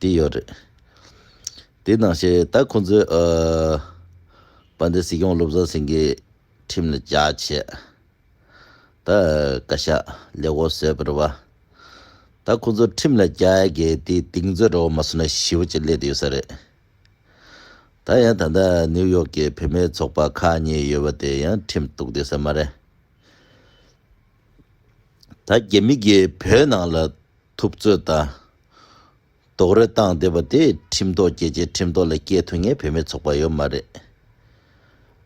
དེ་ཡོད་རེད། དེ་ནང་བཤད་ད་ཁོང་ཚོས་ཨ། པ་འདི་སྲིད་སྐྱོང་བློ་བཟང་སེང་གེ་ཁྲིམས་ལ་རྒྱ་བྱེད། ད་བཀའ་ཤག་ལས་འོ་བཟོས་པར་བ། ད་ཁོང་ཚོ་ཁྲིམས་ལ་རྒྱ་གས་དེ་དིང་མཛོད་རོ་མ་སོ་ན་ཞི་བ་ཅིག་སླེད་དུ་ཡོད་ས་རེད། ད་ཡང་ད་ལྟ་ནིའུ་ཡོག་གི་བུད་མེད་ཚོགས་པ་ཁག་གཉིས་ཡོད་བ་དེ་ཡང་ཁྲིམས་གཏུགས་དུས་ས་མ་རེད། ད་རྒྱ་མི་རྒྱའི་བོད་ནང་ལ་ཐུབ་ཚོད་ད་དོག་རེ་བཏང་བསྡད་པ་དེ་ཁྲིམས་ཐོག་རྒྱལ་སྤྱའི་ཁྲིམས་ཐོག་ལ་སྐྱེལ་ཐུབ་ངེས་བོད་མི་ཚོགས་པ་ཡོད་མ་རེད་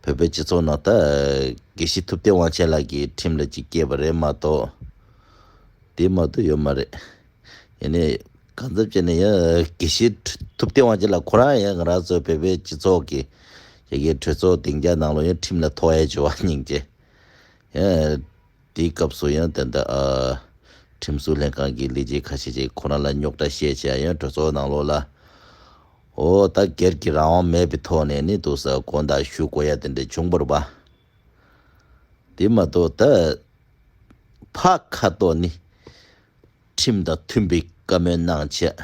བོད་པའི་སྤྱི་ཚོགས་ནང་ད་གེ་ཤི་ཐུབ་བསྟན་དབང་ཆེན་ལགས་ཀྱི་ཁྲིམས་ལ་ཅིག་སྐྱེལ་བ་རེད་མ་གཏོགས་དེ་མ་ཏོག་ཡོད་མ་རེད་ཡིན་ནའི་གང་ཚབ་བྱས་ནས་ཡང་གེ་ཤི་ཐུབ་བསྟན་དབང་ཆེན་ལགས་ཁོ་རང་ཡང་ང་རང་ཚོ་བོད་པའི་སྤྱི་ཚོགས་ཀྱི་ཡ་གེ་གྲོས་ཚོགས་སྡིང་རྒྱ་ནང་ལོ་ཡང་ཁྲིམས་ལ་ཐོ་ཨེ་བྱོ་བ་སྙིང་རྗེ་ཡང། དེའི་སྐབས་སུ་ཡང་དེ་འདྲ། ཁྲིམས་བཟོ་ལྷན་ཁང་གི་ལས་བྱེད་ཁ་ཤས་ཀྱིས་ཁོ་རང་ལ་རྙོག་དྲ་བཤད་བྱས་ཡང་གྲོས་ཚོགས་ནང་ལོགས་ལ། འོ་ད་སྒེར་གྱི་རང་དབང་མེད་པའི་ཐོག་ནས་ནི་དུ་ས་དགོན་དག་ཞུ་དགོས་ཡ་དེ་འདྲ་བྱུང་བར་བ། དེ་མ་གཏོགས་ད་ཕ་ཁ་ཏོ་ནི། ཁྲིམས་དང་མཐུན་པའི་བཀའ་མོལ་གནང་བྱས།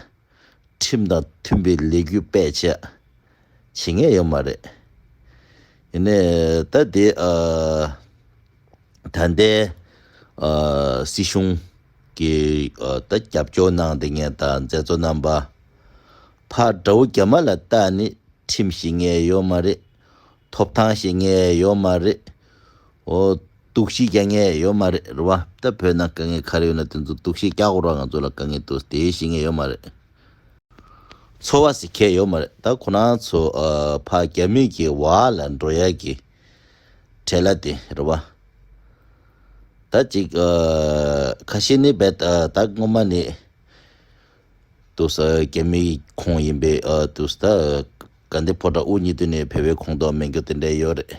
ཁྲིམས་དང་མཐུན་པའི་ལས་གུས་སྤེལ་བྱས། བྱེད་ངེས་ཡོད་མ་རེད། ཡིན་ནའི་ད་ལྟའི་ད་ལྟའི་སྲིད་གཞུང་གི་ད་རྒྱབ་སྐྱོར་གནང་འདི་ངས་ད་མཛད་གཙོ་རྣམ་པ་ཕ་དགྲ་བོ་རྒྱ་མ་ལ་ལྟ་ནི་ཁྲིམས་བྱེད་ངེས་ཡོད་མ་རེད། ཐོབ་ཐང་བྱེད་ངེས་ཡོད་མ་རེད། ཨོ་གཏུག་བྱེད་རྒྱ་ངེས་ཡོད་མ་རེད་རེད་བ། ད་བོད་ནང་དཀའ་ངལ་ག་རེ་ཡོད་ན་དེ་ཚོ་གཏུག་བྱེད་རྒྱག་རོགས་ང་ཚོ་ལ་དཀའ་ངལ་དུ་དེ་བྱེད་ངེས་ཡོད་མ་རེད། འཚོ་བ་ཟེར་མཁན་ཡོད་མ་རེད་ད་ཁོ་ན་ཚོ་ཕ་རྒྱ་མིག་གི་བ་ལ་འགྲོ་ཡ་གི་བྲེ་ལ་དེ་རེད་བ་ད་ཅིག་ཁ་ཤེས་ནི་བེད་ད་སྔོན་མ་ནས་དུ་ས་རྒྱ་མིག་གི་ཁོངས་ཡིན་པའི་དུ་ས་ད་ག་འདི་ཕོ་བྲ་དབུ་གཉིས་དུ་ནས་བེད་བེད་ཁོངས་དོག་མེད་གི་དེ་འདྲ་ཡོད་རེད།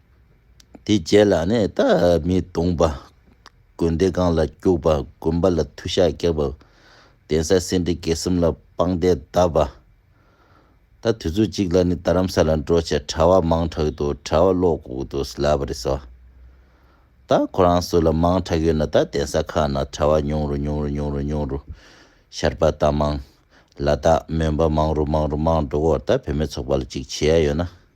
དེའི་རྗེས་ལ་ནི་རྟ་རྨིས་བརྡུངས་པ། དགོན་སྡེ་སྒང་ལ་སྐྱུགས་པ་དགོན་པ་ལ་མཐུ་ཞགས་བཀྱགས་པ། གདན་ས་སེ་འབྲས་དགེ་གསུམ་ལ་དཔང་རྟེན་གདབ་པ། ད་དུས་ཚོད་ཅིག་ལ་ནི་རྡ་རམ་ས་ལ་འགྲོ་ཆེད་གྲྭ་བ་མང་དྲགས་འདུག་གྲྭ་བ་ལོག་གུག་ཏུ་སླ་བ་རེད་ཟེར་བ། ད་ཁོ་རང་སུ་ལ་མང་དྲགས་ཡོད་ན་ད་གདན་ས་ཁག་ན་གྲྭ་བ་ཉུང་རུ་ཉུང་རུ་ཉུང་རུ་ཉུང་རུ་ཤར་པ་ད་མང། ལ་དྭགས་མོན་པ་མང་རུ་མང་རུ་མང་འགྲོ་སྐོར་ད་བུད་མེད་ཚོགས་པ་ལ་ཅིག་བྱེད་ཡ་ཡོད་ན།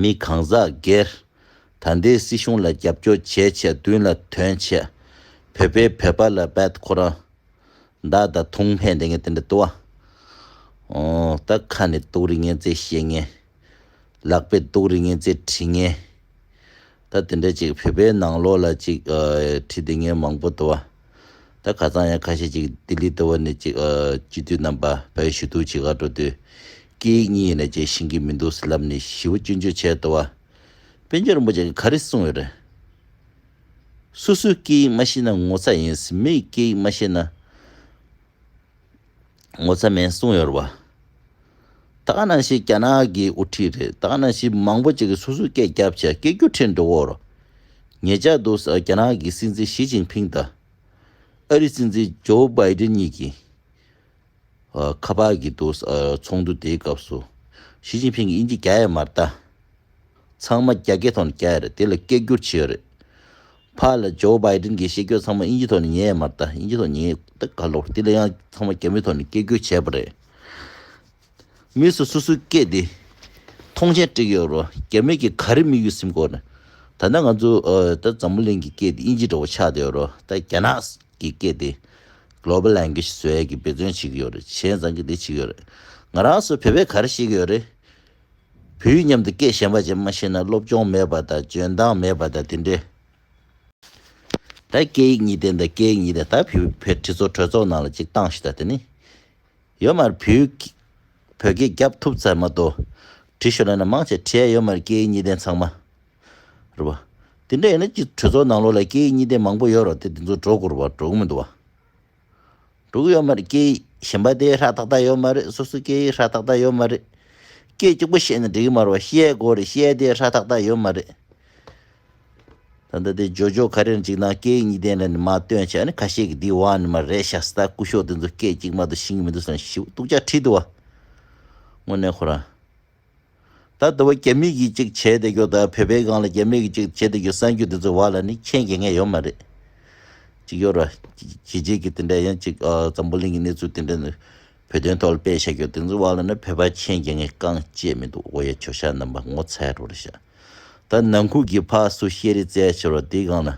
མི་གང་ཟག་སྒེར། ད་ལྟའི་སྲིད་གཞུང་ལ་རྒྱབ་སྐྱོར་བྱས་ཆེད་བདུན་ལ་དོན་བྱས། བོད་པའི་བོད་པ་ལ་འབད་ཁོ་རང། བདག་དང་ཐུང་ཕན་དེ་ངས་དེ་འདྲ་དུ་བ། ད་ཁ་ནས་དུག་རིགས་ངན་ཙེ་བཤད་ངན། ལག་པས་དུག་རིགས་ངན་ཙེ་བྲིས་ངན། ད་དེ་འདྲ་ཅིག་བོད་པའི་ནང་ལོགས་ལ་ཅིག་ཁྲི་འདི་ངས་མང་པོ་དོ། ད་ག་ཚང་ཡང་ཁ་ཤས་ཅིག་ལྡི་ལི་ལྟ་བུ་ནས་ཅིག་སྤྱི་འཐུས་རྣམ་པ་བོད་ཞུ་གཏུག་བྱེད་ག་འགྲོ་དུས། སྐད་ཡིག་གཉིས་ཡིན་ན་ཅིག་ཤིང་གི་མི་འདུག་ཟེར་ལབ་ནས་བཞི་བོ་བཅུ་མཇུག་བྱས་དོ། དཔལ་འབྱོར་རིན་པོ་ཆེ་གི་ག་རེ་གསུངས་ཡོད་རེད། སུ་སུའི་སྐད་ཡིག་མ་ཤེས་ན་ངོ་ཚ་ཡིན་སྲིད་མི་ཡི་སྐད་ཡིག་མ་ཤེས་ན། ངོ་ཚ་མེད་གསུངས་ཡོད་རེད་བ། ད་ནང་བཞིན་རྒྱ་ནག་གི་དབུ་ཁྲིད་རེད་ད་ནང་བཞིན་མང་པོ་ཅིག་གིས་སོ་སོའི་སྐད་རྒྱབ་བྱས་སྐད་རྒྱུ་ཁྲིད་འགྲོ་གོ་རོ། ངེད་ཅག་འདུག་ས་རྒྱ་ནག་གི་སྲིད་འཛིན་ཞི་ཅིང་ཕིང་དང། ཨ་རི་སྲིད་འཛིན་ཇོ་བའི་ཏིན་གཉིས་ཀྱིས་ཁ་པར་གྱིས་འདུག་ས་ཚོགས་འདུ་དེའི་སྐབས་སུ། ཞི་ཅིང་ཕིང་གིས་དབྱིན་ཇི་རྒྱ་ཡིས་མ་བལྟ། ཚང་མ་རྒྱ་སྐད་ཐོག་ནས་བསྐྱལ་ཡ་རེད་དེ་ལ་སྐད་སྒྱུར་བྱེད་ཡོད་རེད། ཕ་ལ Joe Biden གྱི་བཤད་རྒྱུ་ཚང་མ་དབྱིན་ཇི་ཐོག་ནས་ཉན་ཡ་མ་རེད་ད་དབྱིན་ཇི་ཐོག་ཉན་ཡོད་ད་ག་ལོར་དེ་ལ་ཡང་ཚང་མ་རྒྱ་མི་ཐོག་ནས་སྐད་སྒྱུར་བྱས་པ་རེད། མི་སུ་སུ་སུའི་སྐད་དེ་མཐོང་ཆེན་དཀྲིགས་ཡོད་རུང་རྒྱ་མི་གིས་ག་རེ་དམིགས་ཡོད་སེམས་ཁོ་ན་ད་ནི་ང་ཚོའི་ད་འཛམ་བུ་གླིང་གི་སྐད་དེ་དབྱིན་ཇི་འདྲ་བོ་ཆགས་བསྡད་ཡོད་རུང་ད་རྒྱ་ནག་གི་སྐད་དེ Global Language བཟོས་ཡ་གི་འབད་བརྩོན་བྱེད་ཀྱི་ཡོད་རེད་བྱས་ཙང་གི་དེ་བྱེད་ཀྱི་ཡོད་རེད། ང་རང་སུ་བོད་པས་ག་རེ་བཤད་ཀྱི་ཡོད་རེད། བུ་ཡིས་མཉམ་དུ་སྐད་གཞན་པ་ཅན་མ་ཤེས་ན་སློབ་སྦྱོང་མེད་པ་དང་འཇོན་མདངས་མེད་པ་དང་དེ་འདྲའི། ད་སྐད་ཡིག་གཉིས་ལྡན་དང་སྐད་ཡིག་གཉིས་ལྡན་ད་བུ་བོད་ཁྲི་ཚོ་གྲོས་ཚོགས་ནང་ལ་ཅིག་བཏང་ཤི་ད་དེ་ནི། ཡོད་མར་བུ་བོད་སྐད་རྒྱབ་ཐུབ་ཚར་མ་ཏོ། བྲིས་ཤོ་ལ་ན་མང་ཆེ་ཁྲི་ཡ་ཡོད་མར་སྐད་ཡིག་གཉིས་ལྡན་ཚང་མ། རེད་བ། དེ་འདྲ་ཡིན་ན་ཅིག་གྲོས་ཚོགས་ནང་ལོག་ལ་སྐད་ཡིག་གཉིས་ལྡན་མང་པོ་ཡོད་རོགས་དེ་དེ་ཚོ་འགྲོ་དགོས་རུ་བ་འགྲོ་གི་མི་འདུག་བ། དྲུག་ཡོད་མ་རེད་སྐད་ཡིག་གཞན་པ་དེ་ཧྲ་ཏག་ཏག་ཡོད་མ་རེད་སོ་སོའི་སྐད་ཡིག་ཧྲ་ཏག་ཏག་ཡོད་མ་རེད། སྐད་གཅིག་པོ་བཤད་ནས་འགྲིག་གི་མ་རེད་བ་ཤེས་ཡའི་སྒོ་རེད་ཤེས་ཡ་དེ་ཧྲ་ཏག་ཏག་ཡོད་མ་རེད། ད་ལྟ་དེ་ཇོ་ཇོ་ག་རེར་འཇིགས་སྣང་སྐད་ཡིག་གཉིས་ལྡན་རེད་ནི་མ་སྟོན་བྱས་ནི་ཁ་ཤས་ཀྱི་འདི་བ་ནི་མ་རེད་ཤ་སྟག་སྐུ་ཤོག་དེ་ཚོ་སྐད་གཅིག་མ་དུ་ཤིང་གི་མི་འདུག་ཟེར་ན་ཞིབ་ཏུག་ཅག་ཁྲིད་དུ་བ། དངོས་གནས་ཁོ་རང། ད་ལྟ་བ་རྒྱ་མིག་གིས་ཅིག་བྱས་བསྡད་རྒྱུ་དང་བོད་པའི་སྒང་ལ་རྒྱ་མིག་གིས་ཅིག་བྱས་བསྡད་རྒྱུ་གསང་རྒྱུ་དེ་ཚོའི་བར་ལ་ནི་ཁྱད་འགེལ་ངེས་ཡོད་མ་རེད། ཅིག་ཡོད་རེད། གལ་ཆེ་གི་དེ་འདྲ་ཡིན་ཅིག་འཛམ་བུ་གླིང་གི་གནས་ཚུལ་དེ་འདྲ་ནི་བོད་དོན་ཐོག་ལ་སྤེལ་བྱ་རྒྱུ་དེ་ཚོའི་བར་ལ་ནི་བོད་པ་ཁྱད་འགེལ་ངེས་རྐང་བཅད་མི་འདུག་འོ་ཡ་ཁྱོད་ཤ་ནམ་པ་ངོ་ཚ་རོ་རེད་ཤ་ད་ནང་ཁུལ་གྱི་ཕ་སུ་ཤེས་རེད་བཙལ་བྱེད་རོགས་དེའི་སྒང་ལ།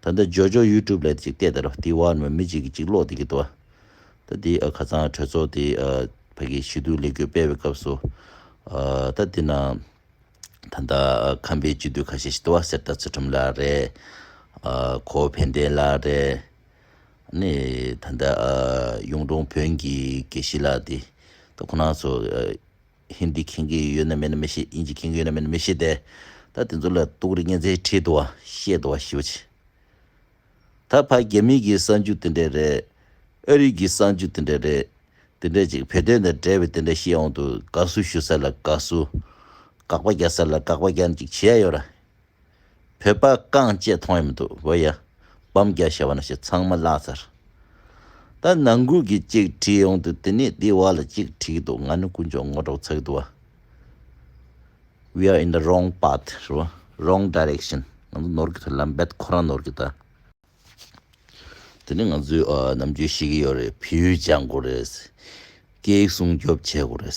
ད་ལྟ་ཇོ་ཇོ YouTube ལས་ཅིག་བལྟས་དེ་རོ་དེའི་བར་མི་མི་གཅིག་གིས་གཅིག་ཀློག་བསྡད་ཀྱི་འདུག་བ། ད་དེ་ཁ་ཚང་གྲོས་ཚོགས་དེ་ཕ་གི་ཞི་དུལ་ལས་འགུལ་སྤེལ་བའི་སྐབས་སུ། ད་དེ་ན་ད་ལྟ་ཁམས་པའི་སྤྱི་འཐུས་ཁ་ཤས་ཤིག་འདུག་བ་གསེར་རྟ་ཚུལ་ཁྲིམས་ལགས་རེད། གོ་བོ་ཕན་བདེ་ལགས་རེད། ནི་ད་ལྟ་གཡུང་དྲུང་བོན་གྱི་དགེ་བཤེས་ལགས་དེ་ད་ཁོ་ན་ཚོ། ཧིན་དི་མཁྱེན་གི་ཡོད་ན་མེད་ན་མི་ཤེས་དབྱིན་ཇི་མཁྱེན་གི་ཡོད་ན་མེད་ན་མི་ཤེས་ཏེ་ད་དེ་ཚོ་ལ་ཏུག་རི་གཉན་ཚའི་ཁྲིད་དུ་བ་བཤད་དུ་བ་ཞུ་བྱས་ད་ཕ་རྒྱ་མི་གི་གསང་རྒྱུ་དེ་འདྲས་རེད་ཨ་རི་གི་གསང་རྒྱུ་དེ་འདྲས་རེད་དེ་འདྲས་ཅིག་བོད་དོན་དང་འབྲེལ་བའི་དེ་འདྲས་བཤད་འོང་དུ་དགའ་བསུ་ཞུ་ས་ལ་དགའ་བསུ་དགག་པ་རྒྱག་ས་ལ་དགག་པ་རྒྱག་ཅིག་བྱེད་ཡ་ཡོད་ར། བོད་པ་རྐང་བཅད་མཐོང་ཡ་མི་འདུག་བོད་ཡ། བམ་རྒྱ་ཞེས་བ་ན་ཞེས་ཚང་མ་བཀླགས་ཚར། ད་ནང་ཁུལ་གྱི་གཅིག་བྲིས་ཡོང་དུས་དེ་ནས་དེའི་བ་ལ་གཅིག་བྲིས་ཀྱི་འདུག་ང་ནི་དཀོན་མཆོག་ངོ་སྒྲོག་ཚ་གི་འདུག་བ། We are in the wrong path རེད་བ། Wrong direction ང་ཚོ་ནོར་གི་རེད་ལམ་རྦད་ཁོ་རང་ནོར་གི་ད། དེ་ནི་ང་ཚོས་ནམ་རྒྱུན་ཤེས་ཀྱི་ཡོད་རེད་བོད་ཡུལ་སྦྱང་དགོས་རེད། སྐད་ཡིག་སྲུང་སྐྱོབ་བྱེད་དགོས་རེད།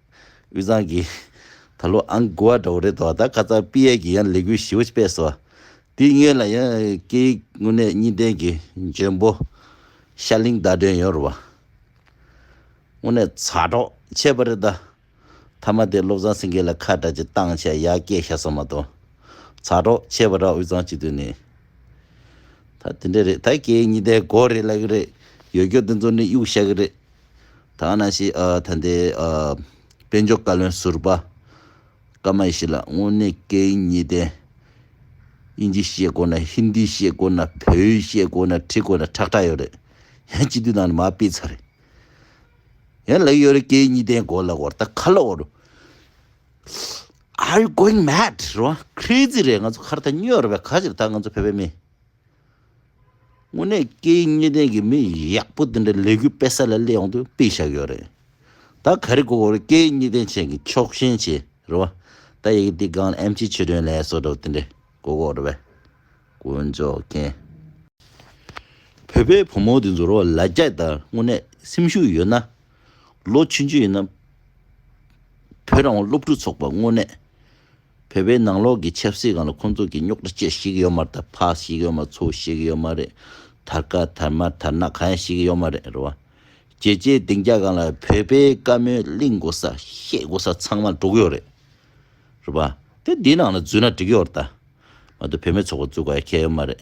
དབུས་གཙང་གི། ད་ལོ་ཨང་དགུ་བ་འདྲ་བོ་རེད་འདུག་ད་ཁ་ཚང་པི་ཡལ་གྱི་ཡང་ལས་འགུལ་ཞི་བོ་སྤེལ་སོང། དེའི་སྔོན་ལ་ཡང་སྐད་ཡིག་དངོས་གནས་གཉིས་ལྡན་གྱི་འཇོན་པོ། ཤར་གླིང་བརྡ་སྒྲོན་ཡོད་རུང་བ། དངོས་གནས་ཚ་གྲོགས་ཆེ་བ་རེད་ད། མཐའ་མ་དེ་བློ་བཟང་སེང་གེ་ལ་ཁ་བྲལ་གྱི་སྟངས་ཆ་ཡར་སྐྱེད་བྱས་སོང་མ་གཏོགས། ཚ་གྲོགས་ཆེ་བ་རང་དབུས་གཙང་སྤྱི་འཐུས་ནས། ད་དེ་འདྲ་རེད་ད་སྐད་ཡིག་གཉིས་ལྡན་གོ་རེ་ལ་གི་རེད། ཡོད་སྐྱོ་དེ་ཚོ་ནི་གཡུག་བཤའ་གི་རེད། ཐ་ན་ཞེས་ད་ལྟའི་དཔལ་འབྱོར་བཀའ་བློན་ཟུར་པ་ཀམའི་ཞི་ལ་དངོས་གནས་སྐད་ཡིག་གཉིས་ལྡན། དབྱིན་ཇི་ཤེས་དགོས་ན་ཧིན་དི་ཤེས་དགོས་ན་བོད་ཡིག་ཤེས་དགོས་ན་བྲིས་དགོས་ན་ཁྲག་ཁྲག་ཡོད་རེད། ཡང་སྤྱི་འཐུས་ནང་ནས་མ་སྤེལ་ཚར་རེད། ཡང་ལེགས་ཡོད་རེད་སྐད་ཡིག་གཉིས་ལྡན་དགོས་ལབ་བར་ད་ག་ལ་འོ་རུ། Are you going mad རེད་བ crazy རེད་ང་ཚོ་ཁར་ད་སྨྱོས་རེད་བས་ག་ཕྱིར་ད་ང་ཚོ་བོད་པའི་མི། དངོས་གནས་སྐད་ཡིག་གཉིས་ལྡན་གྱི་མི་ཡག་པོ་དེ་འདྲ་ལས་གུས་དཔེ་ས་ལ་སླེབས་ཡོང་དུས་དཔེ་བཞག་ཡོད་རེད་ད་ག་རེ་གོ་གོ་རེད་སྐད་ཡིག་གཉིས་ལྡན་ཅན་གྱི་ཕྱོགས་ཞེན་བྱེད་རེད་བ་ད་ཡི་གེ་འདི་སྒང་ལ་ཨེམ་ཆིའི་ཆོས་སྒྲོན་ལས་སོ་དྲག་དེ་འདྲ་གོ་གོ་རེད་བས་དཀོན་མཆོག་མཁྱེན། བོད་པའི་བུ་མོ་དེ་ཚོ་རོ་ལ་རྒྱ་དང་དངོས་གནས་སེམས་ཤུགས་ཡོད་ན། ལོ་ཆུང་ཆུང་ཡིན་ན། བོད་རང་དབང་སློབ་ཕྲུག་ཚོགས་པ་དངོས་གནས། བོད་པའི་ནང་ལོགས་ཀྱི་ཆབ་སྲིད་གང་ལ་ཁོང་ཚོ་གི་རྙོག་དྲ་ཅི་ཞིག་ཡོད་མ་རེད་ད་ཕག་ཞིག་ཡོད་མ་ཚུག་ཞིག་ཡོད་མ་རེད་དར་དཀར་དར་དམར་དར་ནག་གང་ཡང་ཞིག་ཡོད་མ་རེད་རེད་བ། རྒྱལ་སྤྱའི་སྡིངས་རྒྱ་གང་ལ་བོད་པའི་བཀའ་མོལ་གླིང་དགོ་ས་བཤད་དགོ་ས་ཚང་མ་འགྲོ་གི་ཡོད་རེད་རེད་བ། དེ་འདི་ནང་ལ་འཛུལ་ན་འགྲིག་གི་ཡོད་རེད་ད། མ་ཏོ་བོད་མི་ཚོགས་པ་འཛུལ་དགོས་ཡ་ཁྱད་ཡོད་མ་རེད་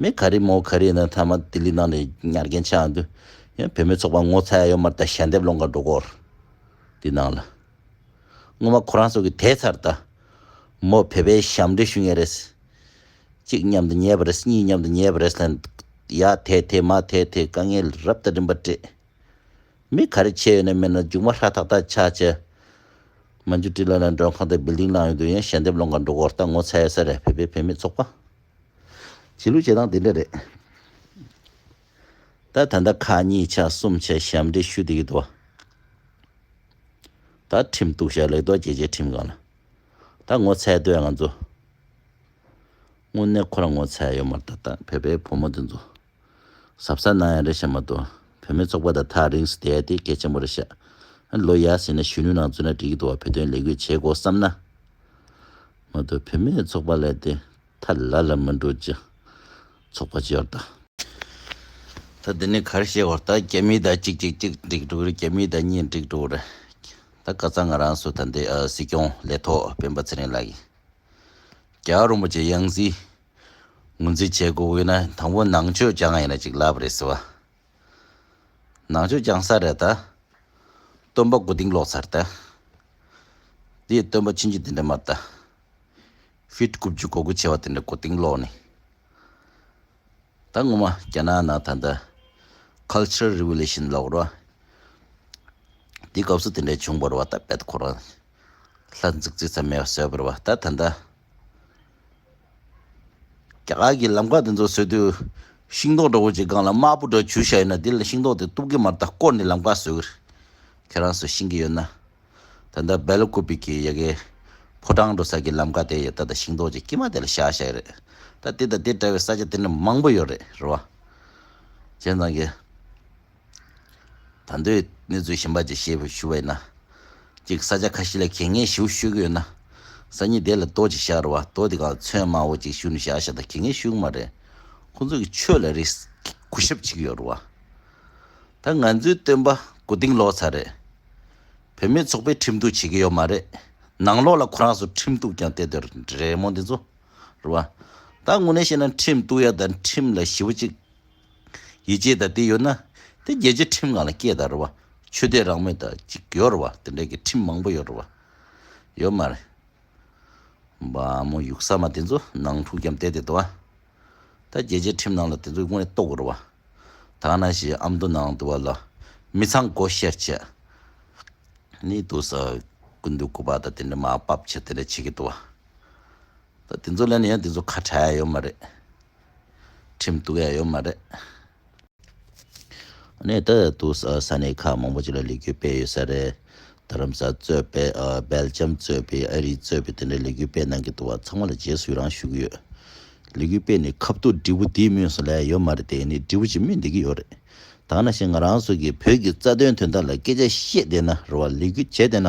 མེ་ག་རེ་མོ་ག་རེ་ནི་མཐའ་མ་ལྡི་ལི་ནང་ནས་ཉར་མཁན་ཆགས་ཡོང་དུས། ཡང་བོད་མི་ཚོགས་པ་ངོ་ཚ་ཡོད་མར་ད་ཞལ་འདེབས་སློང་ག་འགྲོ་སྐོར་དེ་གནང་ལ། སྔོན་མ་ཁོ་རང་ཚོ་གི་དེ་ཚར་ད་མོ་བོད་པའི་ཞབས་འདྲེན་ཞུ་ངེས་རེད། གཅིག་མཉམ་དུ་ཉལ་བ་རེད་གཉིས་མཉམ་དུ་ཉལ་བ་རེད་ལ། ཡ་དེ་དེ་མ་དེ་དེ་དཀའ་ངལ་རབ་ད་རིམ་པར་སྤྲད། མི་ག་རེ་ཆས་ཡོད་ནས་མེད་ན་རྒྱུགས་མ་ཧྲ་ཐག་ཐག་ཆ་བྱས། མ་འཇུ་བཀྲིས་ལོན་ནས་མགྲོན་ཁང་དེ Building ནང་ཡོང་དུས་ཡང་ཞལ་འདེབས་སློང་ག་འགྲོ་སྐོར་ལྟ་ངོ་ཚ་ཡ་ས་རེད་བོད་པའི་བུད་མེད་ཚོགས་པ། བྱེད་ལུགས་བྱེད་སྟངས་དེ་འདྲ་རེད། ད་ད་ལྟ་ཁག་གཉིས་ཆ་གསུམ་ཆ་ཞབས་འདྲེན་ཞུ་དེ་ཡོད་དོ། ད་ཁྲིམས་གཏུགས་ཤག་ལེགས་རྡོ་རྗེ་བཅས་ཁྲིམས་གང་ལ་ད་ངོ་ཚའི་དོན་ང་ཚོ་དངོས་གནས་ཁོ་རང་ངོ་ཚའི་ཡོད་མ་རེད་ད་ད་བོད་པའི་བུ་མོ་དེ་ཚོ། གཟབ་གཟབ་གནང་ཡ་རེད་ཤ་མ་ཏོ། བོད་མི་ཚོགས་པ་དང་ཐག་རིང་སུ་བསྡད་ཡ་དེ་སྐད་ཆེན་པོ་རེད་ཤ། ལོ་ཡ་ཟིན་ན་གཞོན་ནུ་ནང་བཙུད་ན་འགྲིག་གི་འདུག་བ་བོད་དོན་ལས་གུས་བྱེད་དགོ་བསམ་ན། མ་ཏོ་བོད་མི་ཚོགས་པ་ལས་དེ་ཐ་ལ་ལ་མི་འགྲོ་ཅི། ཚོགས་པ་ཅི་ཡོར་ད། ད་འདི་ནས་གར་བཤད་བར་ད་རྒྱ་མི་དང་གཅིག་གཅིག་གཅིག་འགྲིག་འགྲོ་གི་རེད་རྒྱ་མི་དང་གཉིས་འགྲིག་འགྲོ་གི་རེད། ད་ག་ཚང་ང་རང་སུ་ད་འདི་སྲིད་སྐྱོང་ལས་ཐོག་སྤེན་པ་ཚེ་རིང་ལགས་ཀྱིས། རྒྱ་རོན་པོ་ཆེ་གཡང་གཟིགས། ངོས་འཛིན་བྱེད་དགོས་དབུས་ན་དང་པོ་ནང་ཆོས་རྐྱང་ཡིན་ན་ཅིག་ལབ་རེད་ཟེར་བ། ནང་ཆོས་རྐྱང་ས་རེད་ད། སྟོན་པ་དགུ་སྡིངས་ལོག་ཚར་ད། དེ་ཡི་སྟོན་པ་ཕྱིན་ཅི་དེ་འདྲ་མ་ད། བྷིད་དགུ་བཅུ་གོ་དགུ་བྱེ་བ་དེ་འདྲ་གོ་སྡིངས་ལོག་ནི། ད་ངོ་མ་རྒྱ་ནག་ནང་ད་འདྲ། Cultural Revolution ལོག་རོ། དེ་སྐབས་སུ་དེ་འདྲ་བྱུང་བར་བ་ད་བད་ཁོ་རང། ལྷ་འཛུགས་རྩིས་ཚ་མེད་བ་བཟོས་བར་བ་ད་ད་འདྲ། རྒྱ་གར་གྱི་ལམ་ཁ་དེ་ཚོར་བཟོས་དུས། ཤིང་ཏོག་འདྲ་བོ་ཅིག་སྒང་ལ་དམར་པོ་འདྲ་བྱུར་བཞག་ཡོད་ན་དེ་ལ་ཤིང་ཏོག་དེ་གཏུབ་ཀྱི་མ་རེད་ད་བསྐོར་ནས་ལམ་ཁ་བཟོས་གི་རེད། ཁྱེད་རང་ཚོས་ཤེས་ཀྱི་ཡོད་ན། ད་ལྟ་སྦེ་ལ་ཀུ་པི་ཀི་ཡ་གའི་ཕོ་བྲང་འགྲོ་ས་ཀྱི་ལམ་ཁ་དེ་ཡོད་ད་ད་ཤིང་ཏོག་ཅིག་དཀྱིས་མ་དེ་ལ་བཞག་བཞག་གི་རེད། ད་དེ་དང་དེ་འདྲ་བའི་ས་ཆ་དེ་འདྲ་མང་པོ་ཡོད་རེད་རེད་བ། ཁྱེད་རང་ཚང་གི། ད་མདོའི་གནས་ཚུལ་ཞིབ་འབར་གྱི་ཞེས་ཞུ་བ་ཡིན་ན། གཅིག་ས་ཆ་ཁ་ཤས་ལ་གལ་ངེས་ཞུགས་ཤོད་ཀྱི་ཡོད་ན། ས་གཉིས་དེ་ལ་མདོ་གཅིག་བཞག་རོགས་མདོ་དེ་གང་མཚོན་མང་བོ་གཅིག་ཞུགས་ནས་བཞག་ཤ་ད་གལ་ངེས་ཞུགས་གི་མ་རེད། ཁོང་ཚོ་གི་ཆོས་ལ་རིགས་གོ་ཞབས་གཅིག་ཡོད་རོགས། ད་ང་ཚོའི་སྟོན་པ་གོ་སྡིང་ལོག་ཚར་རེད། བུད་མེད་ཚོགས་པས་ཁྲིམས་གཏུག་བྱེད་ཀྱི་ཡོད་མ་རེད། ནང་ལོག་ལ་ཁོ་རང་ཚོ་ཁྲིམས་གཏུག་ཀྱང་དེ་དོན་རེད་མོ་འདི་ཚོ་རོགས། ད་དངོས་གནས་བཤད་ན་ཁྲིམས་གཏུག་ཡ་ད་ཁྲིམས་ལ་ཞི་བོ་གཅིག་ཡིད་ཆེས་དང་དེ་ཡོད་ན། དེ་རྒྱལ་སྤྱིའི་ཁྲིམས་ངང་ལ་སྐྱེས་དང་རུང་བ། ཆོས་དད་རང་མོས་དང་གཅིག་ཡོད་རུང་བ་དེ་འདྲའི་གི་ཁྲིམས་མང་པོ་ཡོད་རུང་བ། ཡོད་མ་རེད། འབའ་མོ་ཡུག་ས་མ་དེ་ཚོ་ནང་འཁྲུག་རྒྱམ་བསྟད་དེ་དོ་ཨ། ད་རྒྱལ་སྤྱིའི་ཁྲིམས་ནང་ལ་དེ་ཚོ་དངོས་གཏོགས་རུང་བ། ད་ང་ན་ཞེ་ཨ་མདོ་ནང་དུ་བ་ལ་མི་ཚང་སྒོ་བཤེར་བྱས། ནི་དུ་ས་ཀུན་དུ་སྐུ་པར་དང་དེ་འདྲ་མ་སྤབ་བྱས་དེ་འདྲ་བྱེད་གི་དོ་ཨ། ད་དེ་ཚོ་ལས་ནས་ཡང་དེ་ཚོ་ཁ་བྲལ་ཡ་ཡོད་མ་རེད། ཁྲིམས་གཏུགས་ཡ་ཡོད་མ་རེད། ནས་ད་དུ་ས་གནས་ཁག་མང་པོ་ཅིག་ལ་ལས་འགུལ་སྤེལ་ཡོད་ས་རེད། རྡ་རམ་ས་གཙོས་པའི་སྦེལ་ཇམ་གཙོས་པའི་ཨ་རི་གཙོས་པའི་དེ་འདྲའི་ལས་འགུལ་སྤེལ་གནང་གི་འདུག་བ་ཚང་མ་ལ་རྗེས་སུ་ཡི་རང་ཞུ་གི་ཡོད། ལས་འགུལ་སྤེལ་ནས་ཁ་བཏུགས་འབྲས་བུ་དེའི་སྨོན་སུ་ལས་ཡོད་མ་རེད་དེ་ནི་འབྲས་བུ་ཅིག་སྨིན་བསྡད་ཀྱི་ཡོད་རེད། ད་ང་ཤི་ང་རང་སོགས་ཀྱིས་བོད་ཀྱི་རྩ་དོན་དོན་དག་ལ་སྐད་ཆ་བཤད་བསྡད་ན་རེ་བ་ལས་འགུལ་བྱས་བསྡད་ན།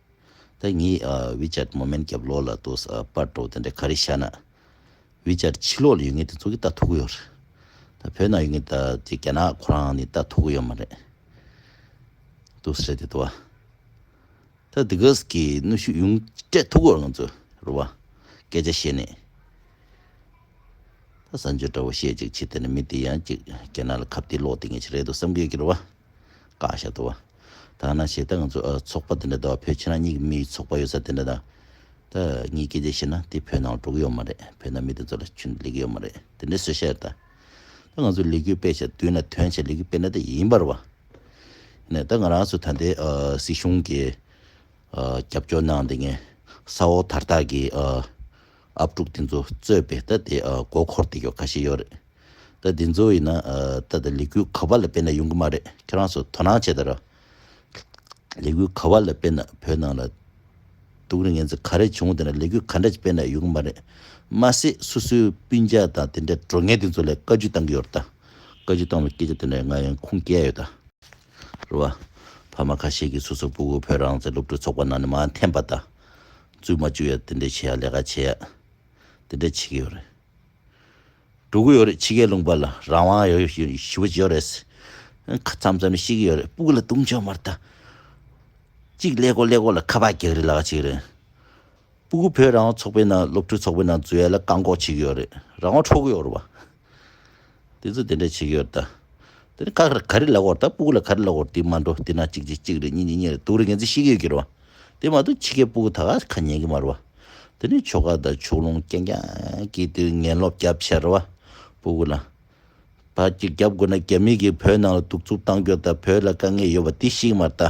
ད་ངས་བྷི་ཅར་མོ་མན་སྐྱབས་ལོག་ལ་ལྟོས་ས་པར་གྲོགས་དེ་འདྲ་ག་རེ་ཤར་ན། བྷི་ཅར་ཕྱི་ལོག་ལ་ཡོད་ངེས་དེ་ཚོ་གིས་ལྟ་ཐུབ་གི་ཡོད་རེད། ད་བོད་ནང་ཡོད་ངེས་ད་དེ་རྒྱ་ནག་ཁོ་རང་ནས་ལྟ་ཐུབ་གི་ཡོད་མ་རེད། ལྟོས་ས་རེད་དེ་ལྟོས་ཨ། ད་དེ་ག་ཟེ་གི་གནོད་ཤུགས་ཡོང་སྤྲད་ཐུབ་གི་ཡོད་རེད་ང་ཚོས་རེད་བ། སྐད་ཆ་བཤད་ནས། ད་གསར་འབྱོར་འདྲ་བོ་བཤད་ཅིག་ཕྱི་དེ་ནས་མི་དེ་ཡང་ཅིག་རྒྱ་ནག་ལ་ཁ་བརྡའི་ལོག་དེ་ངེས་ཅིག་རེད་དོ་བསམ་གི་ཡོད་ཀྱི་རེད་བ། བཀག་ཤ་ལྟོས་ཨ། ཐ་ན་བྱེད་སྟངས་ང་ཚོ་ཚོགས་པ་དེ་འདྲ་དང་བོད་ཕྱི་ནང་གཉིས་ཀྱི་མིའི་ཚོགས་པ་ཡོད་ས་དེ་འདྲ་དང། ད་ངས་སྐད་ཆ་བཤད་ན་དེ་བོད་ནང་གྲོགས་ཡོད་མ་རེད་བོད་ནང་མི་དེ་ཚོ་ལ་ཆུན་ལེགས་ཡོད་མ་རེད་དེ་འདྲའི་བཟོད་བཤད་རེད་ད། ད་ང་ཚོ་ལས་འགུལ་སྤེལ་བྱས་དུས་ན་དོན་བྱས་ལས་འགུལ་སྤེལ་ན་དེ་ཡིན་པར་བ། ནས་ད་ང་རང་ཚོ་ད་ལྟའི་སྲིད་གཞུང་གི་རྒྱབ་སྐྱོར་གནང་དེ་ངས་ས་འོག་དར་ཐག་གི་ཨབ་ཕྲུག་དེ་ཚོ་རྩོད་པའི་ད་དེ་མགོ་འཁོར་དེ་ཡོད་ཁ་ཤས་ཡོད་རེད། ད་དེ་ཚོ་ཡིན་ན་ད་ལྟ་ལས་འགུལ་ག་བ་ལ་དཔེ་ན་ཡོང་གི་མ་རེད་ཁྱེད་རང་ཚོ་དོ་སྣང་བྱེད་དར། ལས་འགུལ་ག་བ་ལ་དཔེ་ན་བོད་ནང་ལ་དུག་རིགས་ངན་ཚོ་ག་རེ་བྱུང་དེ་ན་ལས་འགུལ་ག་འདྲ་ཅིག་དཔེ་ན་ཡོང་གི་མ་རེད། མ་ཟད་སོ་སོའི་སྤུན་མཇལ་དང་དེ་འདྲའི་འགྲོ་ངན་དེ་ཚོ་ལས་བཀའ་བརྒྱུད་བཏང་གི་ཡོད་རེད་ད། བཀའ་བརྒྱུད་བཏང་བའི་སྐད་ཆ་དེ་འདྲ་ང་ཡང་ཁུངས་སྐྱེལ་ཡོད་ད། རེད་བ། ཕ་མ་ཁ་ཤས་ཀྱིས་སོ་སོའི་སྤུ་གུ་བོད་རང་བཙན་སློབ་ཕྲུག་ཚོགས་པ་ནང་ནས་མ་འཐེན་པ་ད། བཙུད་མ་བཅུག་ཡ་དེ་འདྲས་བྱས་ཡ་ལས་ཀ་བྱས་ཡ། དེ་འདྲས་བྱེད་ཀྱི་ཡོད་རེད། དྲུག་གི་ཡོད་རེད་ཕྱི་གའི་ལུང་པ་ལ་རང་དབང་ཡོད་ཞུ་བ་ཅི་ཡོད་རེད། ཁ་ཚམ་ཚམ་ཤི་གི་ཡོད་རེད་སྤུ་གུ་ལ་བཏུང་ཆོག་མར་ལྟ། གཅིག་ཀླད་ཀོར་ཀླད་ཀོར་ལ་ཁ་བག་གེགས་རེད་ལ་ག་ཅིག་རེད། སྤུ་གུ་བོད་རང་དབང་ཚོགས་པའི་ནང་སློབ་ཕྲུག་ཚོགས་པའི་ནང་འཛུལ་ཡ་ལ་བཀག་འགོག་བྱེད་ཀྱི་ཡོད་རེད་རང་དབང་འཕྲོག་གི་ཡོད་རེད་བ། དེ་ཚོ་དེ་འདྲ་བྱེད་ཀྱི་ཡོད་རེད་ད། དེ་ནས་ཁ་ག་རེ་ལ་གོར་ལྟ་སྤུ་གུ་ལ་ག་རེ་ལ་གོར་དེ་མ་འགྲོ་དེ་ན་གཅིག་གཅིག་གཅིག་རེད་གཉིས་གཉིས་གཉིས་རེད་དུག་རེད་འགན་འཛིན་ཤི་གི་ཡོད་ཀྱི་རེད་བ། དེ་མ་གཏོགས་ཕྱི་སྐད་སྤུ་གུ་ད་ག་ཁ་ཉན་གི་མ་རེད་བ། དེ་ནས་ཆོལ་ཁ་དང་ཕྱོགས་ལུང་རྐྱང་རྐྱང་གི་དུས་ངན་ལོག་རྒྱབ་བྱས་རེད་བ། སྤུ་གུ་ལ། བར་གྱི་རྒྱབ་དགོས་ན་རྒྱ་མི་གིས་བོད་ནང་ལ་གདུག་རྩུབ་བཏང་རྒྱུ་དང་བོད་ལ་དཀའ་ངལ་ཡོད་བ་དེ་ཤིག་མ་རེད་ད།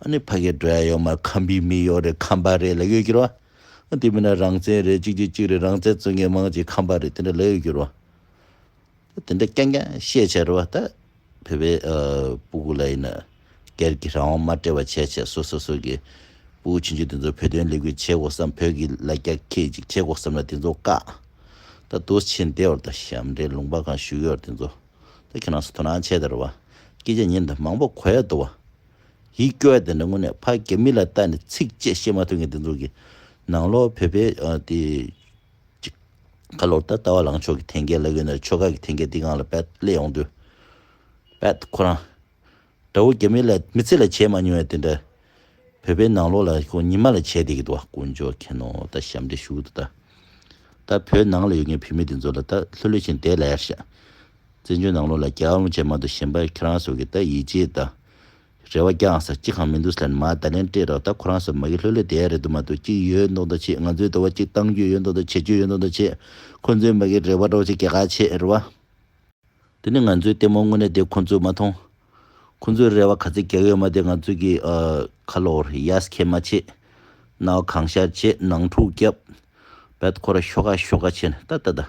ཨ་ནི་ཕ་གི་འགྲོ་ཡ་ཡོད་མ་རེད་ཁམ་བུའི་མི་ཡོད་རེད་ཁམ་པ་རེད་ལ་ཡོད་གྱུར་བ། དེ་མིན་ན་རང་བཙན་རེད་གཅིག་གཅིག་གཅིག་རེད་རང་བཙན་བརྩོད་མཁན་མང་གཅིག་ཁམ་པ་རེད་དེ་འདྲ་ལ་ཡོད་གྱུར་བ། དེ་འདྲ་ཀྱང་ཀྱང་ཤེས་བྱ་རུ་བ་ལྟ་བུ་བའི་སྤུ་གུ་ལ་ཡིན་ན་སྒེར་གྱི་རང་དབང་མ་སྤྲད་པ་བྱས་བྱས་སོ་སོ་སོ་གི་སྤུ་གུ་བྱིན་ཆུ་དེ་ཚོ་བོད་དོན་ལས་འགུལ་བྱེད་དགོ་བསམ་བོད་ཀྱི་ལ་རྒྱ་ཁྱེད་ཅིག་བྱེད་དགོ་བསམ་ན་དེ་ཚོ་བཀག་ད་དུ་ཕྱིན་བདེ་བར་དང་ཞབས་འདྲེན་ལུང་པ་གང་བཞུགས་ཡོད་དེ་ཚོ་ད་ཁྱེད་རང་ཚོ་དོ་སྣང་བྱས་ད་རུ་བ་སྐད་ཆ་ཉན་ད་མང་པོ་གོ་ཡ་འདུག་བ་ཡིད་སྐྱོ་ཡ་དེ་འདྲ་དངོས་གནས་ཕ་རྒྱ་མི་ལ་ལྟ་ནས་ཚིག་བཅད་བཤད་མ་ཐུབ་མཁན་དེ་ཚོ་གི་ནང་ལོག་བོད་པའི་དེ། ཁ་ལོར་ད་ལྟ་བ་ལང་ཕྱོགས་ཀྱི་ཐེན་སྐད་ལ་གོས་ན་ཕྱོགས་ཁག་གི་ཐེན་སྐད་འདི་གང་ལ་བལྟ་སླད་ཡོང་དུས། བལྟ་ཁོ་རང། དགྲ་བོ་རྒྱ་མི་ལ་མི་ཚེ་ལ་བྱས་མ་མྱོང་བའི་དེ་འདྲ། བོད་པའི་ནང་ལོག་ལ་ཁོང་ཉི་མ་ལ་བྱས་བསྡད་ཀྱི་འདུག་བ་དཀོན་མཆོག་མཁྱེན་ནོ་ད་ཞབས་འདྲེ་ཞུགས་འདུག་ད། ད་བོད་ནང་ལ་ཡོད་མཁན་བུད་མེད་དེ་ཚོ་ལ་ད་ལྷོད་ལྷོད་བཞིན་བསྡད་ལ་ཡར་བཞག། བཙན་བྱོལ་ནང་ལོག་ལ་རྒྱ་དབང་བྱས་མ་འདུག་གཞན་པ་ཁྱེད་རང་སོགས་ཀྱི་ད་ཡིད་ཆེས་ད། རེ་བ་རྐྱང་ས་གཅིག་གང་མི་འདུག་སླད་མ་བརྡ་ལན་སྤྲད་རོགས་ད་ཁོ་རང་ས་མ་གི་ལྷོད་ལྷོད་དེ་རེད་འདུག་མ་འདུག་གཅིག་ཡོད་མདོག་མདོག་བྱེད་ང་ཚོའི་དོ་བ་གཅིག་གཏང་རྒྱུ་ཡོད་མདོག་མདོག་བྱེད་རྒྱུ་ཡོད་མདོག་མདོག་བྱེད་ཁོ་ཚོའི་མ་གི་རེ་བ་སྒྲོག་བྱེད་གེ་ཁ་བྱེད་རེ་བ། དེ་ནི་ང་ཚོའི་ལྟད་མོ་དངོས་གནས་དེ་ཁོ་ཚོས་མ་མཐོང། ཁོ་ཚོའི་རེ་བ་ག་ཚད་རྒྱག་ཡོད་མ་དེ་ང་ཚོས་གི་ཁ་ལོར་ཡཱས་ཁེ་མ་བྱེད། རྣ་བ་གང་ཤར་བྱེད་ནང་འཁྲུག་བརྒྱབ། བད་ཁོ་ར་ཤོ་ག་ཤོ་ག་བྱེད་ད་ད་ད།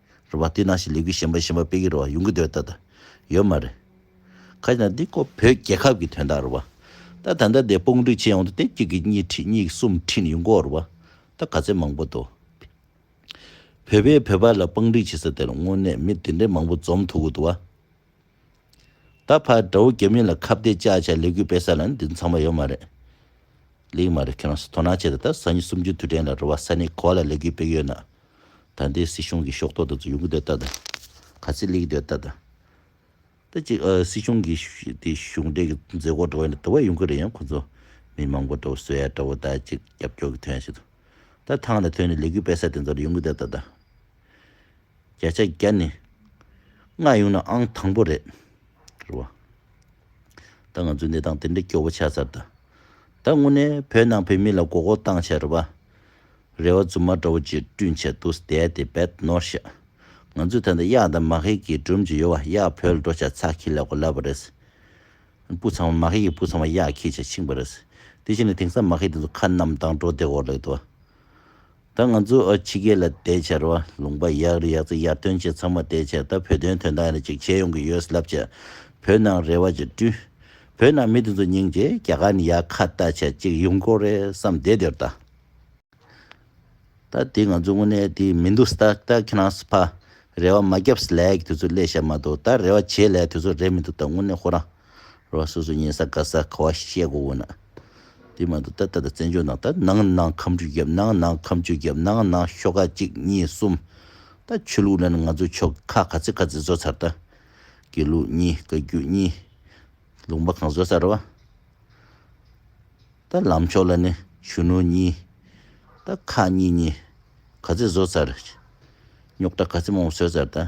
རེད་བ་དེ་ནང་བཞིན་ལས་འགུལ་གཞན་པ་གཞན་པ་སྤེལ་གི་རེད་བ་ཡོང་གི་འདོད་ད་ད་ཡོད་མ་རེད། ཁ་ཅིག་ན་འདི་ཀོ་བོད་རྒྱལ་ཁབ་ཀྱི་དོན་དག་རེད་བ། ད་ད་ལྟ་འདས་དཔུང་སྒྲིག་བྱེད་ཡོང་དུ་དེབ་གཅིག་གིས་གཉིས་ཁྲིད་གཉིས་གསུམ་ཁྲིད་ཡོང་གོ་རེད་བ། ད་ག་ཚད་མང་པོ་འདུག་བོད་པས་བོད་པ་ལ་དཔང་སྒྲིག་བྱེད་ས་དེར་དངོས་གནས་མི་དེ་འདྲའི་མང་པོ་འཛོམས་ཐུབ་གི་འདུག་བ། ད་བར་དགྲ་བོ་རྒྱ་མི་ལ་ཁ་བརྡའི་བཅག་བྱ་ལས་འགུལ་སྤེལ་ས་ལ་ནི་འདི་ཚང་མ་ཡོད་མ་རེད། ལེགས་མ་རེད་ཁྱེད་རང་ཚོས་དོ་སྣང་བྱས་ད་ལྟ་གཟའ་ཉི་གསུམ་རྒྱུན་དུས་དྲན་ལ་རེ་བ་ས་གནས་གོ་བ་ལ་ལས་འགུལ་སྤེལ་གི་ཡོད་ན། ད་ལྟའི་སྲིད་གཞུང་གི་ཤོག་ཐོག་དེ་ཚོ་ཡོང་གི་འདོད་ལྟ་དང། ག་ཚད་ལེགས་ཀྱི་འདོད་ལྟ་དང། ད་ཅིག་སྲིད་གཞུང་གི་དེ་གཞུང་འབྲེལ་གྱི་མཛད་སྒོ་འགྲོ་བ་ཡིན་ན་དེ་བས་ཡོང་གི་རེད་ཡང་ཁོ་ཚོ་མི་མང་པོ་དགྲ་བོ་བཟོས་ཡ་དགྲ་བོ་ད་ཅིག་རྒྱབ་སྐྱོར་གྱི་དོན་བྱེད་དོ། ད་ཐང་ལ་ཐོན་ནས་ལས་འགུལ་སྤེལ་ས་དེ་ཚོ་ལ་ཡོང་གི་འདོད་ལྟ་དང། བརྒྱ་ཆ་བརྒྱ་ནི་ང་ཡོང་ན་ཨང་དང་པོ་རེད། རེད་བ། ད་ང་ཚོས་འདི་དང་དེ་འདྲ་སྐྱོ་བོ་ཆགས་ཚར་ད། ད་དངོས་གནས་བོད་ནང་བོད་མི་ལ་མགོ་སྐོར་བཏང་བྱས་རེད་བ། རེད་བ་རྫུན་མ་འདྲ་བོ་ཅིག་བསྐྲུན་བྱས་འདུག་སྟེ་དེ་བེད་ནོར་བཤད། ང་ཚོས་ད་ལྟ་གཡག་དང་མ་ཧེ་གི་སྒྲོམ་གྱི་ཡོལ་བ་གཡག་བོད་ལ་འགྲོ་བྱ་ཚགས་ཁྱི་ལ་གོ་ལ་བ་རེད། སྤུ་ཚང་བ་མ་ཧེ་ཡི་སྤུ་ཚང་བ་གཡག་ཁྱི་བྱ་འཆིང་བ་རེད། དེ་བཞིན་ལ་དེང་སང་མ་ཧེ་དེ་ཚོ་ཁ་གནམ་དྭངས་སྒྲོ་བདེ་བོར་ལེགས་འདུག་བ། ད་ང་ཚོས་ཨ་ཕྱི་སྐད་ལ་དེ་ཕྱར་བ་ལུང་པ་ཡག་རེད་ཡག་ཚ་ཡར་ཐོན་བྱེད་ཚང་མ་དེ་ཕྱར་ད་བོད་དོན་དོན་དག་རེ་ཅིག་བྱེད་ཡོང་གི་ཡོད་ས་ལབ་བྱས་བོད་ནང་རེ་བ་ཅིག་བཀྲུས། བོད་ནང་མི་དེ་ཚོ་སྙིང་རྗེ་རྒྱ་གར་ནས་ཡར་ཁ་བལྟ་བྱས་ཅིག་ཡོང་སྐོར་རེད་བསམ་བསྡད་དེར་ད། ད་དེ་ང་ཚོ་དངོས་གནས་དེ་མི་འདུག་ས་ད་ད་ཁྱེད་རང་ཚོ་ཕ་རེ་བ་མ་རྒྱབ་ས་ལས་ཀྱི་དུས་ཚོད་སླེ་ཤ་མ་འདུག་ད་རེ་བ་བྱེད་སླའི་དུས་ཚོད་རེད་མི་འདུག་ད་དངོས་གནས་ཁོ་རང། ར་བ་སོ་སོའི་གཉན་ས་ག་ས་ག་བ་ཞིག་བཤད་དགོས་དགོས་ན། དེ་མ་གཏོགས་ད་ལྟ་ད་བཙན་བྱོལ་ནང་ད་ནང་ནང་ཁམས་རུས་རྒྱབ་ནང་ནང་ཁམས་ཆུ་རྒྱབ་ནང་ནང་ཤོག་ཁག་གཅིག་གཉིས་གསུམ། ད་ཆོས་ལུགས་ནང་ནང་ང་ཚོ་ཆོལ་ཁ་ག་ཚད་ག་ཚད་བཟོ་ཚར་ད། དགེ་ལུགས་གཉིས་བཀའ་བརྒྱུད་གཉིས། ལུང་པ་གང་བཟོ་ཚར་བ། ད་ལམ་ཕྱོགས་ལ་ནི་གཞོན་ནུ་གཉིས། ད་ཁག་གཉིས་གཉིས་ག་ཚད་བཟོ་ཚར། རྙོག་དྲ་ག་ཚད་མང་བོ་བཟོས་ཚར་ད།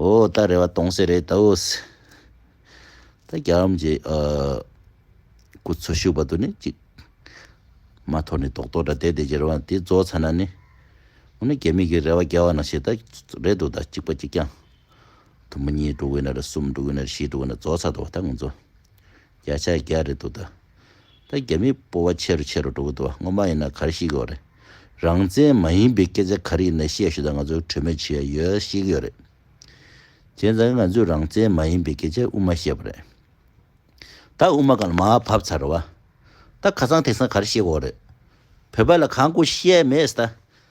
ཨོ་ད་རེ་བ་གཏོང་སའི་རེད་དོ། ད་རྒྱ་རམ་གྱི་སྐུ་འཚོ་བཞུགས་པ་དུ་ནི་གཅིག་མ་ཐོག་ནས་ཏོག་ཏོག་འདྲ་བསྡད་དེ་རྒྱལ་བ་དེ་རྫོགས་ཚར་ན་ནི་འོ་ན་རྒྱ་མི་གི་རེ་བ་རྒྱལ་བ་ན་བྱེད་ད་རེད་དོ་ད་གཅིག་པ་གཅིག་ཀྱང་དུ་མ་གཉིས་འགྲོ་གི་ན་རེ་གསུམ་འགྲོ་གི་ན་རེ་བཞི་འགྲོ་གི་ན་རྫོགས་ཚར་དོ་བ་ད་ང་ཚོ། བརྒྱ་ཆ་བརྒྱ་རེད་འདུག་ད། ད་རྒྱ་མིའི་སྤོ་བ་ཆེ་རུ་ཆེ་རུ་འགྲོ་གི་འདུག་བ་སྔོན་མ་ཡིན་ན་གར་ཤི་གི་བ་རེད། རང་བཙན་མ་ཡིན་པའི་སྐད་ཆ་ག་རེ་ཡིན་ན་བཤད་ཞུ་ད་ང་ཚོ་གྲོས་མོད་བྱེད་ཡ་ཡོད་ཤེས་གི་ཡོད་རེད། བྱས་ཙང་ང་ཚོས་རང་བཙན་མ་ཡིན་པའི་སྐད་ཆ་དབུ་མ་བཤད་པ་རེད། ད་དབུ་མ་གང་མ་བབས་ཚར་རེད་བ། ད་ཁ་སང་ཐེག་སང་གར་ཤི་གི་བ་རེད། བོད་པ་ལ་གང་དགོས་བཤད་མེད་ད།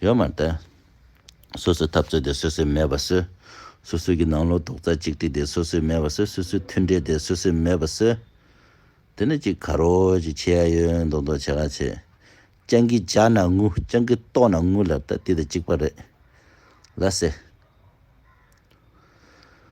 ཡོད་མ་རེད། སོ་སོའི་འཐབ་རྩོད་དེ་སོ་སོས་མེད་པ་བཟོས། སོ་སོའི་གི་ནང་ལོག་རྡོག་རྩ་གཅིག་སྒྲིལ་དེ་སོ་སོས་མེད་པ་བཟོས་སོ་སོའི་མཐུན་འབྲེལ་དེ་སོ་སོས་མེད་པ་བཟོས། དེ་ནི་ཅིག་ག་རོ་ཅིག་ཆེ་ཡ་ཡོད་མདོག་མདོག་བྱེད་ག་བྱེད། སྤྱང་ཀི་རྒྱ་ན་ངུ་སྤྱང་ཀི་ལྟོགས་ན་ངུ་ལབ་ད་དེ་དང་གཅིག་པ་རེད། ལ་སེ།